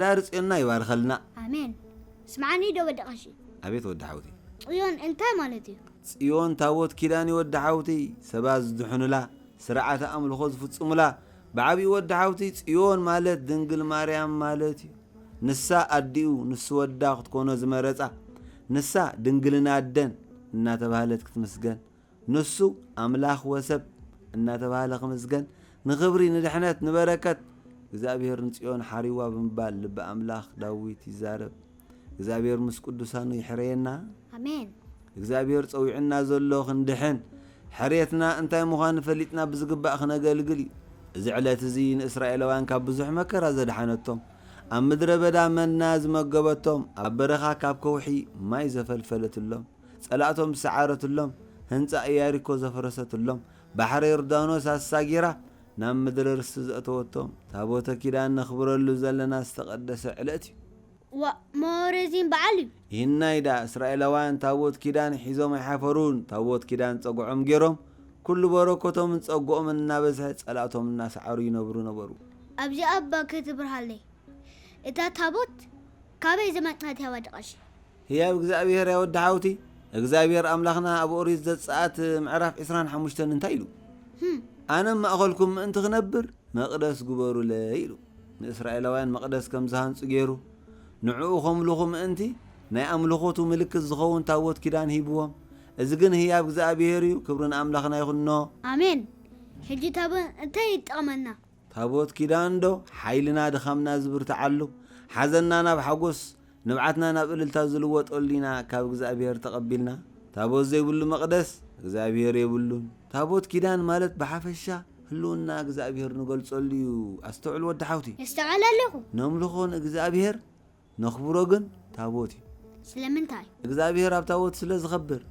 ዳር ፅዮንና ይባርኸልና። ኣሜን ስምዓኒ ዶ ወዲ ቀሺ። ኣቤት ወዲ ሓውቲ። ፅዮን እንታይ ማለት እዩ? ፅዮን ታቦት ኪዳን እዩ ወዲ ሓውትይ ሰባት ዝድሕኑላ ስርዓተ ኣምልኾ ዝፍፅሙላ ብዓብዩ ወዲ ሓውትይ ፅዮን ማለት ድንግል ማርያም ማለት እዩ ንሳ ኣዲኡ ንሱ ወዳ ክትኮኖ ዝመረፃ ንሳ ድንግልና ኣደን እናተባህለት ክትምስገን ንሱ ኣምላኽ ወሰብ እናተባህለ ክምስገን፣ ንኽብሪ፣ ንድሕነት፣ ንበረከት እግዚኣብሔር ንጽዮን ሓሪዋ ብምባል ልቢ ኣምላኽ ዳዊት ይዛረብ። እግዚኣብሔር ምስ ቅዱሳኑ ይሕረየና። ኣሜን። እግዚኣብሔር ጸዊዑና ዘሎ ክንድሕን፣ ሕርየትና እንታይ ምዃኑ ፈሊጥና ብዝግባእ ክነገልግል እዩ። እዚ ዕለት እዚ ንእስራኤላውያን ካብ ብዙሕ መከራ ዘድሓነቶም፣ ኣብ ምድረ በዳ መና ዝመገበቶም፣ ኣብ በረኻ ካብ ከውሒ ማይ ዘፈልፈለትሎም፣ ጸላእቶም ዝሰዓረትሎም፣ ህንጻ እያሪኮ ዘፍረሰትሎም፣ ባሕሪ ዮርዳኖስ ኣሳጊራ ናብ ምድሪ ርስቲ ዘእተወቶም፣ ታቦተ ኪዳን ነኽብረሉ ዘለና ዝተቐደሰ ዕለት እዩ። ዋእ እሞ ረዚን በዓል እዩ። ይህናይ ደኣ እስራኤላውያን ታቦት ኪዳን ሒዞም ኣይሓፈሩን፣ ታቦት ኪዳን ጸግዖም ገይሮም፣ ኩሉ በረከቶምን ጸግኦምን እናበዝሐ ጸላእቶም እናሰዓሩ ይነብሩ ነበሩ። ኣብዚኣ እባ ከይትብርሃለይ እታ ታቦት ካበይ ዝመጽኣት እያ ዋዲ ቀሺ። ህያብ እግዚኣብሄር ያ ወዲ ሓውቲ እግዚኣብሄር ኣምላኽና ኣብ ኦሪት ዘጸኣት ምዕራፍ ዕስራን ሓሙሽተን እንታይ ኢሉ ኣነ ኣብ ማእኸልኩም ምእንቲ ክነብር መቕደስ ግበሩለይ ኢሉ ንእስራኤላውያን መቕደስ ከም ዝሃንጹ ገይሩ ንዕኡ ከምልኹ ምእንቲ ናይ ኣምልኾቱ ምልክት ዝኸውን ታቦት ኪዳን ሂብዎም እዚ ግን ህያብ እግዚኣብሄር እዩ ክብሪ ንኣምላኽና ይኹኖ ኣሜን ሕጂ ታቦት እንታይ ይጠቕመና? ታቦት ኪዳን ዶ ሓይልና ድኻምና ዝብርትዓሉ፣ ሓዘንና ናብ ሓጎስ፣ ንብዓትና ናብ እልልታ ዝልወጠሉ ኢና ካብ እግዝኣብሄር ተቐቢልና። ታቦት ዘይብሉ መቕደስ እግዝኣብሄር የብሉን። ታቦት ኪዳን ማለት ብሓፈሻ ህልውና እግዝኣብሄር ንገልጸሉ እዩ። ኣስተውዕል ወዲ ሓውቲ። የስተውዕል ኣለኹ። ነምልኾ ንእግዝኣብሄር፣ ነኽብሮ ግን ታቦት እዩ። ስለምንታይ? እግዝኣብሄር ኣብ ታቦት ስለ ዝኸብር።